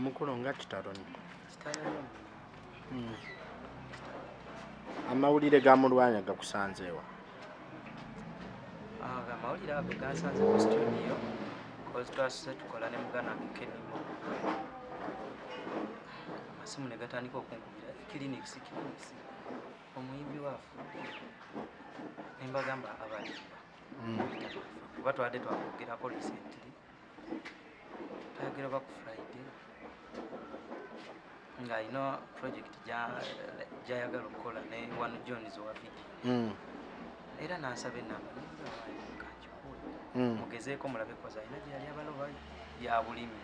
mukulu nga kitalo nyo hmm. amawulire ga mulwanya gakusanzeewa ah, amawulire ago gansanze mu studio kozi twasuse tukola ne mugana wange kenimo amasimu ne gatandika okunkubira kiriniksi kiriniksi omuyimbi waafu nembagamba abalimba kuba twabadde twakwogerako recently twayogera ba ku friday ng'alina project gyayagala okukola ne one johns owa video hmm. era nansaba enamba kanjikuwe hmm. mugezeeko mulabe koza alina gyeyali abaloba ya bulimi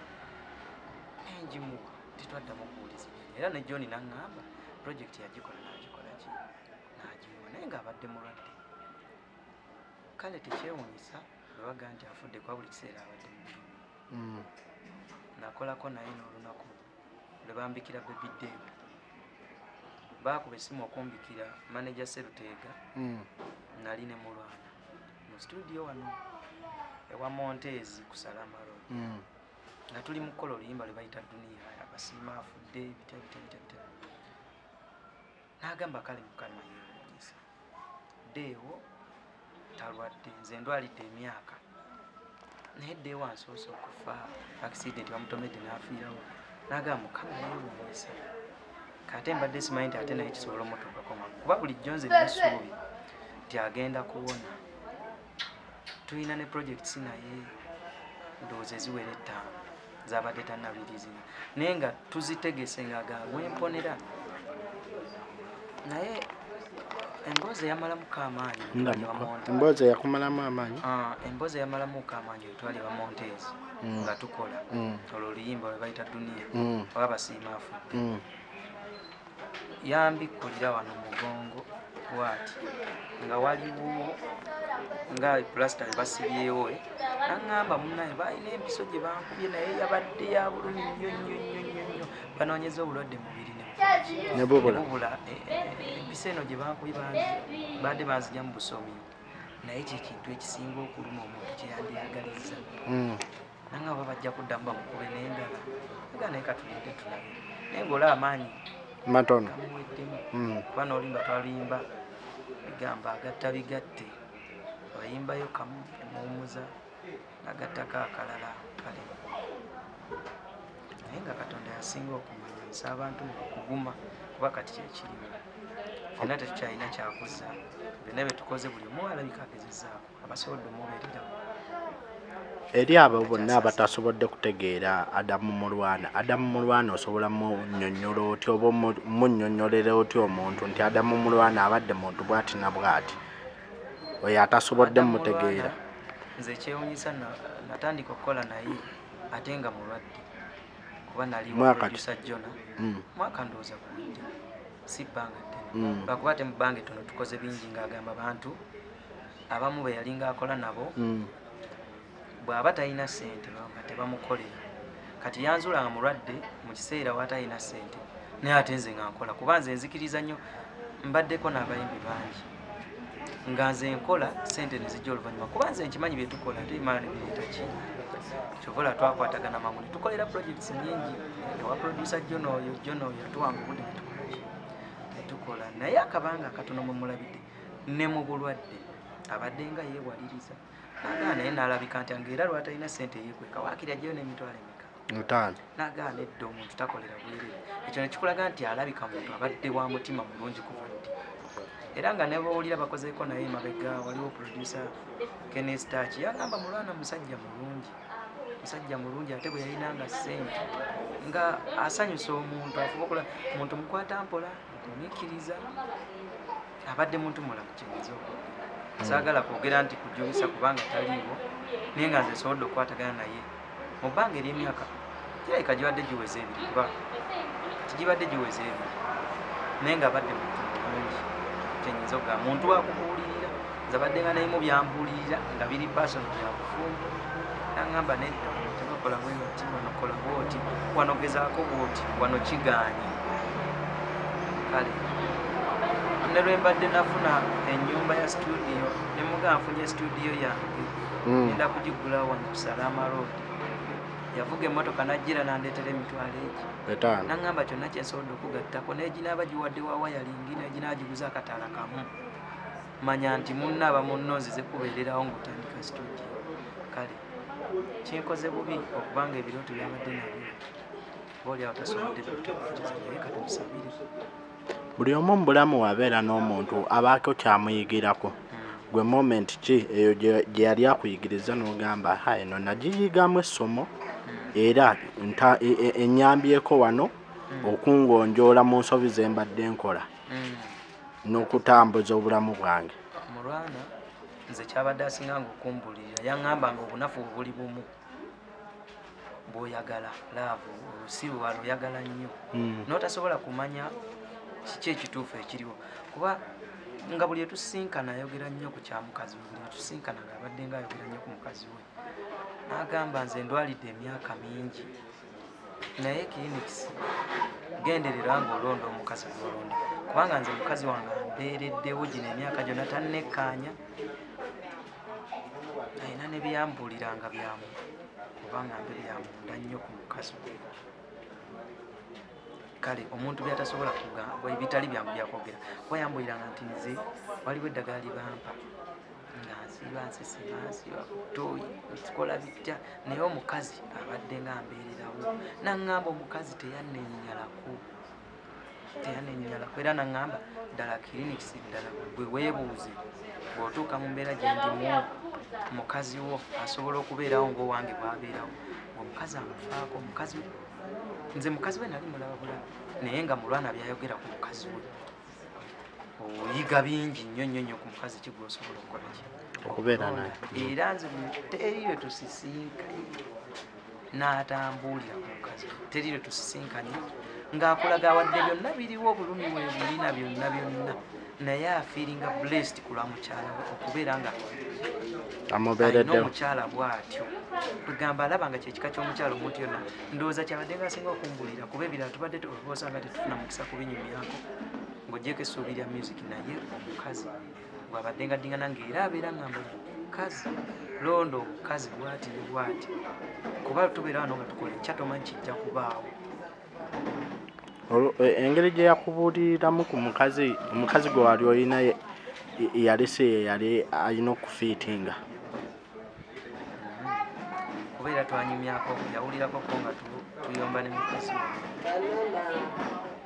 enjimuwa titwaddamu okuwuliza era ne john naŋŋamba project yagikola nagikolaki nagimuwa naye ng'abadde mulwadde kale tekyewunyisa webaga nti afudde kuba buli kiseera abadde mubirimu mm. nakolako naye n'olunaku lwebambikira baby dam baakuba essimu okumbikira manaja seruteega mm. nali ne mulwana mu situdiyo wano ewa monteezi ku salamaro mm. nga tuli mu kukola oluyimba lwe bayita duniya abasiima afudde bitya bitya bitya bitya n'agamba kale mukama yeewuunyisa deewo talwadde nze ndwalidde emyaka naye deewo ansoose okufa accident bamutomedde n'afiirawo n'agamba mukama yeewuunyisa kate mbadde simanyi nti ate naye kisobola omutuukako mangu kuba bulijjo nze nesuubi nti agenda kuwona tulina ne projects naye ndowooza eziwera ettaano zabadde tanabilizina naye nga tuzitegese nga gawemponera naye emboozi eyamalamu ka amaanyi emboozi eyakumalamu amaanyi ah, emboozi eyamalamu ka amaanyi etwali bamontes mm. nga tukola mm. olwo oluyimba lwebayita duniya mm. oba basiima afudde yambikkulira wano mugongo bwati nga waliwo nga pulasita ne basibyewo eh. naŋŋamba munaye balina empiso gye bankubye naye yabadde ya bulumi nnyo nnyo nnyo nnyo nnyo banoonyeza obulwadde mubiri nebubula eh, eh, empiso eno gye bankubye baadde banzija mu busomi naye kyekintu ekisinga okuluma omuntu kyeyandyagaliza hmm. nanga oba bajja kuddamu bamukuba nendala aga naye katulinde tulabe naye ngaola amaanyi matono gamuweddemu hmm. kuba nolimba twalimba bigamba agatta bigatte abayimbayo kamu emuwumuza nagattako akalala kale naye nga katonda yasinga okumanya nsa abantu mukuguma kuba kati kyekirimu fena tetukyalina kyakuzza byonna byetukoze buli omu alabika agezezaako abasobodde omubeerera eri abo bonna abatasobodde kutegeera adamu mulwana adamu mulwana osobola munyonyola otya oba munyonyolera otya omuntu nti adamu mulwana abadde muntu bwati na bwati oyo atasobodde mutegeera nze ekyewunyisa natandika okukola naye ate nga mulwadde kuba nalimusa jona hmm. mwaka ndowooza kuwinja si bbanga ddene hmm. lwakuba ate mu bbanga ettono tukoze bingi ng'agamba bantu abamu be yalinga akola nabo mm. bw'aba talina ssente nga tebamukolera kati yanzula nga mulwadde mu kiseera watalina ssente naye ate nze nga nkola kuba nze nzikiriza nnyo mbaddeko n'abayimbi bangi nga nze nkola sente nezijja oluvanyuma kuba nze nkimanyi byetukola ate emala nebiretaki kyovola twakwatagana mangu netukolera projects nyingi ewa producer jonoyo jonoyo atuwanga obude netukolaki netukola naye akabanga akatono mwemulabidde ne mu bulwadde abadde nga yeewaliriza nagaana naye naalabika nti nga era lwatalina sente eyekweka waakiri ajjayo n'emitwalo emeka mutaano nagaana edda omuntu takolera bwerere ekyo nekikulaga nti alabika muntu abadde wa mutima mulungi kuva ddi era nga nebawulira bakozeeko naye emabega waliwo producer kenestach yagamba mulwana musajja mulungi musajja mulungi ate bwe yalina nga sente nga asanyusa omuntu afuba okola muntu mukwata mpola Nkikkiriza abadde muntu mulamu kyenyinza okwogera. Hmm. Saagala kwogera nti kujulisa kubanga taliiwo naye nga nze nsobodde okukwatagana naye mu bbanga ery'emyaka kirabika gibadde giweze ebiri kuba kati gibadde giweze ebiri naye nga abadde muntu mulungi kyenyinza okugaa muntu wakubuulirira nze abadde nga nayimu byambuulirira nga biri pasono byakufumba nangamba nedda tebakola bwenoti wanokola bwoti wanogezaako bwoti wano kigaanyi kale ne lwe mbadde nafuna ennyumba ya situdiyo ne muga nfunye situdiyo yange hmm. enda kugigula wano kusala amaroodi yavuga emmotoka najjira nandeetera emitwalo egi nangamba kyonna kyensobodde okugattako neginaaba giwadde wa wayalingi neginaagiguza akatala kamu manya nti munna aba munno nzize kubeererawo ngaotandika studio kale kinkoze bubi okubanga ebirooto byabadde nabyo booli awo tasobodde bituukiza naye katumusabire buli omu mu bulamu wabeera n'omuntu abaako kyamuyigirako gwe moment ki eyo gye yali akuyigiriza n'ogamba ha eno nagiyigamu essomo era e, e, enyambyeko wano mm. okungonjoola mu nsobi ze mbadde nkola mm. n'okutambuza obulamu bwange mulwana nze kyabadde asinganga okumbulirira yaŋŋamba nga obunafu buli bumu bwoyagala laavu olusiru aluyagala nnyo hmm. n'otasobola kumanya kiki ekituufu ekiriwo kuba nga buli etusinkana ayogera nnyo ku kya mukazi we buli etusinkana ngaabadde nga ayogera nnyo ku mukazi we n'agamba nze ndwalidde emyaka mingi naye kiiniksi genderera nga olonda omukazi gwolonda kubanga nze mukazi wange ambeereddewo gino emyaka gyonna tannekkaanya alina ne byambuulira nga byamu kubanga mbe byamunda nnyo ku mukazi kale omuntu byatasobola kugamba ebitali byangu byakwogera kuba yambuiranga nti nze waliwo eddagala libampa nga nsiba nsesema nsiba kutoyi nkikola bitya naye omukazi abadde nga mbeererawo naŋŋamba omukazi teyanenyalako teyanenyalako era naŋŋamba ddala clinics ddala gwe weebuuze bw'otuuka mu mbeera gye ndimu mukazi wo asobola okubeerawo ng'owange bwabeerawo omukazi amufaako omukazi nze mukazi we nali mulaba bulabi naye nga mulwana byayogera ku mukazi we oyiga bingi nnyo nnyo nnyo ku mukazi kigwa osobola okukola ki okubeera naye era nze teri lwe tusisinkanye n'atambuulira ku mukazi teri lwe tusisinkanye ng'akulaga awadde byonna biriwo obulumi we bulina byonna byonna naye afiringa blessed ku lwa mukyala we okubeera nga amubeeredde omukyala bw'atyo kwegamba alaba nga kyekika ky'omukyala omuntu yonna ndowooza kyabadde nga asinga okumbulira kuba ebirala tubadde osa nga tetufuna mukisa kubinyumyako ng'ogyeko essuubi lya music naye omukazi bwabadde nga ddingana ng'era abeera ngamba mukazi londo omukazi bwati ne bwati kuba tubeera wano nga tukola ekyatomanyi kijja kubaawo E, engeri gye yakubuuliriramu ku mukazi omukazi gwe wali olina yalese yeyali alina okufiitinga kubeera twanyumyako yawulirako ko nga tuyomba ne mukazi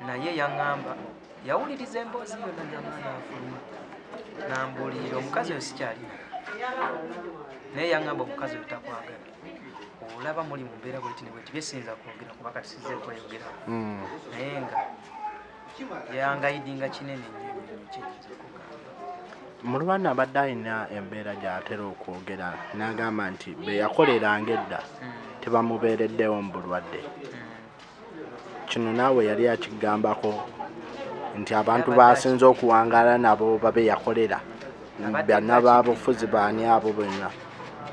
naye yaŋŋamba yawuliriza emboozi yona namanafuluma nambuulirira omukazi oyo sikyalina naye yaŋŋamba omukazi oyo takwagala olaba muli mu mbeera bweti nebweti byesinza kwogera kuba kati size kweyogera hmm. naye nga yangayidinga kinene mulwana abadde alina embeera gyatera okwogera n'agamba nti beyakoleranga edda hmm. tebamubeereddewo mu bulwadde hmm. kino naawe yali akigambako nti abantu basinze okuwangala nabo babe yakolera bana babufuzi baani abo bonna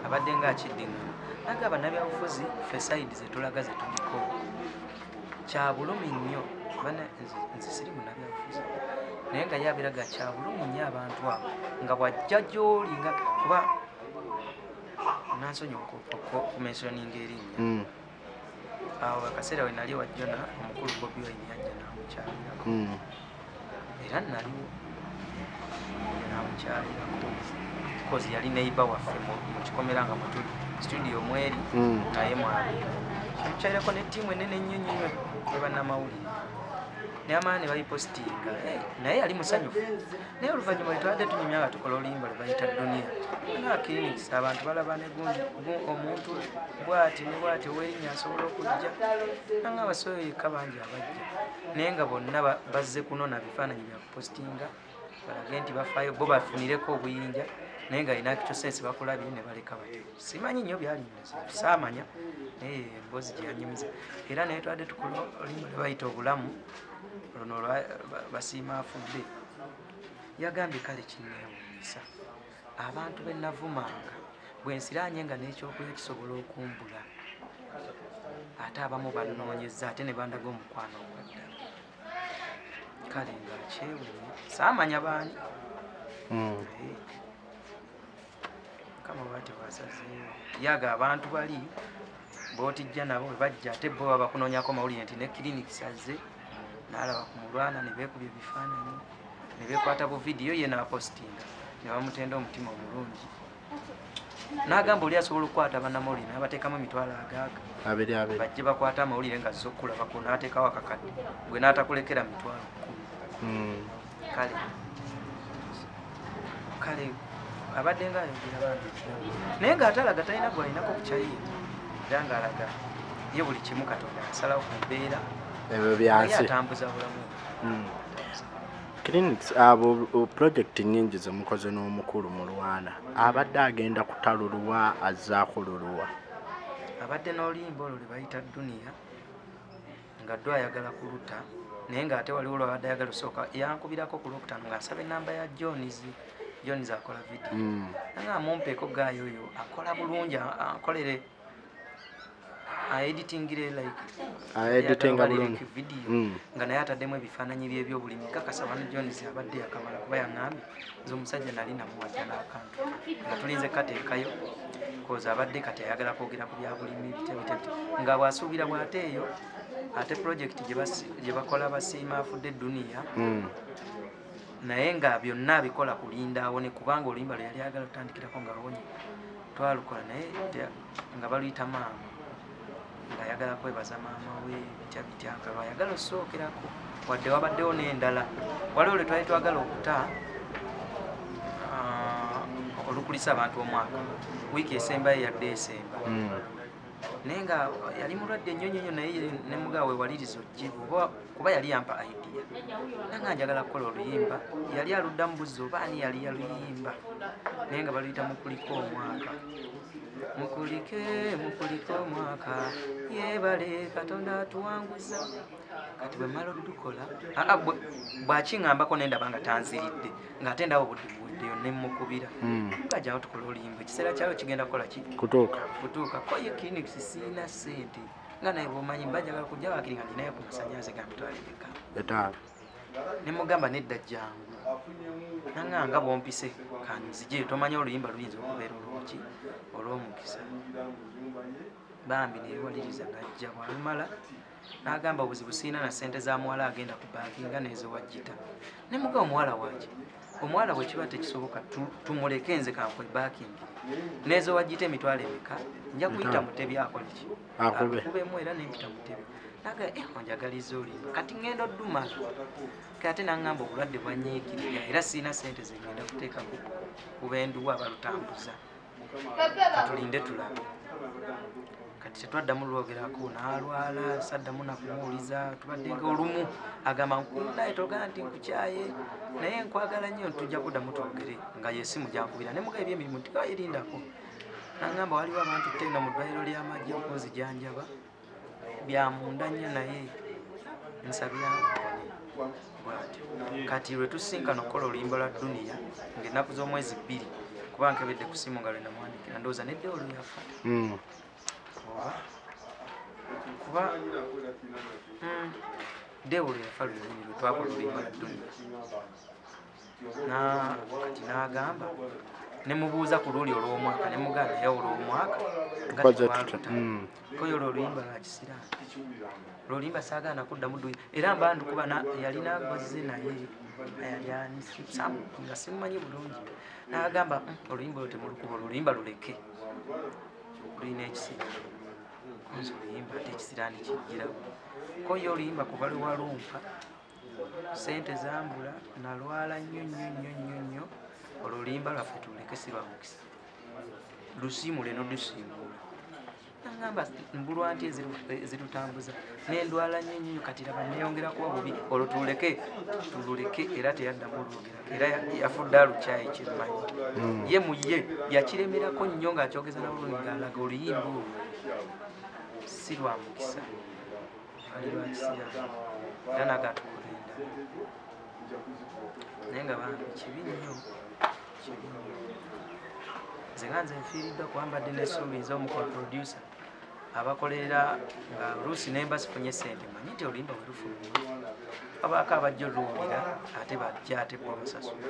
abadde nga akiddingana aga banabyabufuzi fesaidi zetulaga zetuliko kyabulumi nnyo bana nze siri munabyabufuzi naye nga yabiraga kyabulumi nnyo abantu abo nga bwajja gyoli nga kuba nansonyi okumensioninga erinnya mm. awo akaseera we nali wajjona omukulu bobi wine yajja namukyalirako hmm. era naliwo namukyalirako kozi yali neiba waffe mu kikomera nga mutuli studio mweri hmm. naye mwali namukyalirako ne tiimu enene ennyo nnyo ne bannamawulire neyamala ne babipositinga eh, naye yali musanyufu naye oluvannyuma lwetubadde tunyumya nga tukola oluyimba lwebayita duniya nakirinisa abantu balaba negundi omuntu bwati ne bwati owerinya asobola okujja nanga abasoyo yekka bangi abajja naye nga bonna bazze kunona bifaananyi byakupositinga balage nti bafaayo bo bafunireko obuyinja naye nga alina kyosensi bakulabye ne baleka batyo simanyi nnyo byalimu saamanya naye emboozi gyeyanyumiza era naye twadde tukola oluyimba lwebayita obulamu luno basiima afudde yagambye kale kinneewuunyisa abantu be navumanga bwe nsiraanye nga n'ekyokulya kisobola okumbula ate abamu banoonyeza ate ne bandaga omukwano ogwaddala kale nga kyewuunya saamanya baani hmm. yaga abantu bali botijja nabo bebajja ate bo babakunonyako mawulire nti ne clinic sazze nalaba ku mulwana nebekubya ebifaananyi nebekwata bu vidiyo ye napostinga nebamutenda omutima omulungi nagamba oli asobola okukwata banamawulire nabatekamu emitwalo agaaga bajje bakwata amawulire nga zokkulabako natekawo akakadde gwe natakulekera mitwalo kumi hmm. kale kale abadde nga ayogera bambi naye nga atalaga talina gwalinako kukyayiye era nga alaga ye buli kimu katonda asalawo ku mbeera ebyo byansi atambuza bulamu hmm. clinics abo project nyingi zemukoze n'omukulu mu lwana abadde agenda kutaluluwa azzaako luluwa abadde n'oluyimba olwo lwe bayita duniya nga ddo ayagala kuluta naye nga ate waliwo lwabadde ayagala osooka yankubirako ku lwokutano nga nsaba enamba ya johns johns akola vidiyo hmm. anga amumpeeko gaayo oyo akola bulungi akolere aeditingire likevidiyo hmm. nga naye ataddemu ebifaananyi byebyobulimi kakasa wano johns abadde yakamala kuba yaŋambye nze omusajja nali namuwajja n'akantu nga tulinze kateekayo kozi abadde kati ayagala kwogera ku byabulimi bitebitebite nga bwasuubira bwateeyo ate pulojekiti gye bakola basiima afudde eduniya hmm. naye nga byonna abikola kulinda awone kubanga oluyimba lwe yali ayagala tutandikirako nga awonye twalukola naye nga baluyita maama ayagala kwebaza maama we bitya bitya nga lwayagala osookerako wadde wabaddewo n'endala waliwo lwe twali twagala okuta ah, olukulisa abantu omwaka wiiki esembayo yadde esemba hmm. naye nga yali mulwadde nnyo nnyo nyo naye nemugaa wewaliriza ojibu kuba yali yampa idea nanga njagala kukola oluyimba yali aluddamu buzzi oba ani yali yaluyimba naye nga baluyita mukulika omwaka mukulike mukulike omwaka yebale katonda atuwanguza kati bwemala odukola bwakiŋambako nendaba nga tanziridde ngaate ndaba obudiwuddeyo nemukubira hmm. gajawo tukola olimba ekiseera kyayo kigenda kukola ki kutuuka kutuuka koye clinics siina sente nga naye bwomanyi mbajagala kujja wakiri nga ninayo kumasanyaze gantwalibeka etaano ne mugamba nedda jangu nanga nga bompise kanzije tomanya oluyimba luyinza okubeera olwoki olwomukisa bambi neyewaliriza najja bwalumala nagamba obuzibu siina na sente za muwala agenda ku banki nga nezewajjita ne muga omuwala waki omuwala bwekiba tekisoboka tumuleke nze kankwe bakingi nezewajjita emitwalo emeka nja kuyita mutebi akoleki akubemu era nempita kutebe naga eh, onjagaliza olimba kati ngenda oduma kati ate nangamba obulwadde bwanyiikirira era sirina sente zengenda kuteeka kubenduwa balutambuza katulinde tulabe kati tetwaddamu lwogerako nalwala saddamu nakumuwuliza tubadde nga olumu agamba nkunaye togana nti nkukyaye naye nkwagala nnyo ntujja kuddamu twogere nga yesimu gyankubira nemuga ebyemirimu tigaerindako nagamba waliwo abantu tenda mu ddwaliro ly'amagye okunzijanjaba byamunda nnyo naye nsabira bwatyo kati lwe tusinkana okukola oluyimba lwa duniya ng'ennaku z'omwezi bbiri kuba nkebedde ku simu nga lwe namwandikira ndowooza nedde oluyafa hmm. kuba hmm, dewolo yafa luyini lwe twakola oluyimba lwa duniya kati n'agamba ne mubuuza ku luli olw'omwaka ne muganda naye olw'omwaka ngatewaluta hmm. koyo olwo oluyimba lwa kisiraamu lwolimba saagaana kuddamu duyi era mba ndikuba yalina gwazze naye ayali anisamu nga simumanyi bulungi n'agamba hmm, oluyimba olwo temulukuba oluyimba luleke lulina ekisiraamu nze oluyimba ate ekisiraani kijjirawo koyo oluyimba kuba lwewalumpa sente zambula nalwala nnyo nnyo nnyo nnyo nnyo olulimba lwaffe tuleke sibamukisa lusiimule nolusiimuula nagamba mbulwa nti ezirutambuza nendwala nnyo nnyo kati laba neyongera kuba bubi olwo tuleke tululeke era teyaddamu olwogera era yafudde alukyayi kyemmanyi hmm. ye mu ye yakiremerako nnyo ng'akyogeza nabulungi ng'alaga oluyimba olwo si lwa mukisa era nagatukulinda naye nga bambi kibi nnyo kibi nnyo nze nga nze nfiiriddwa kuba mbadde nesuubi nze omukol producer abakolerera nga luusi nemba sifunye sente manyi nti olimba werufuluma abaako abajja oluwulira ate bajja ate bo basasula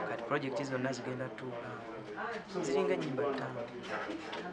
kati projekiti zonna zigenda tuula ziringa enyimba ttaano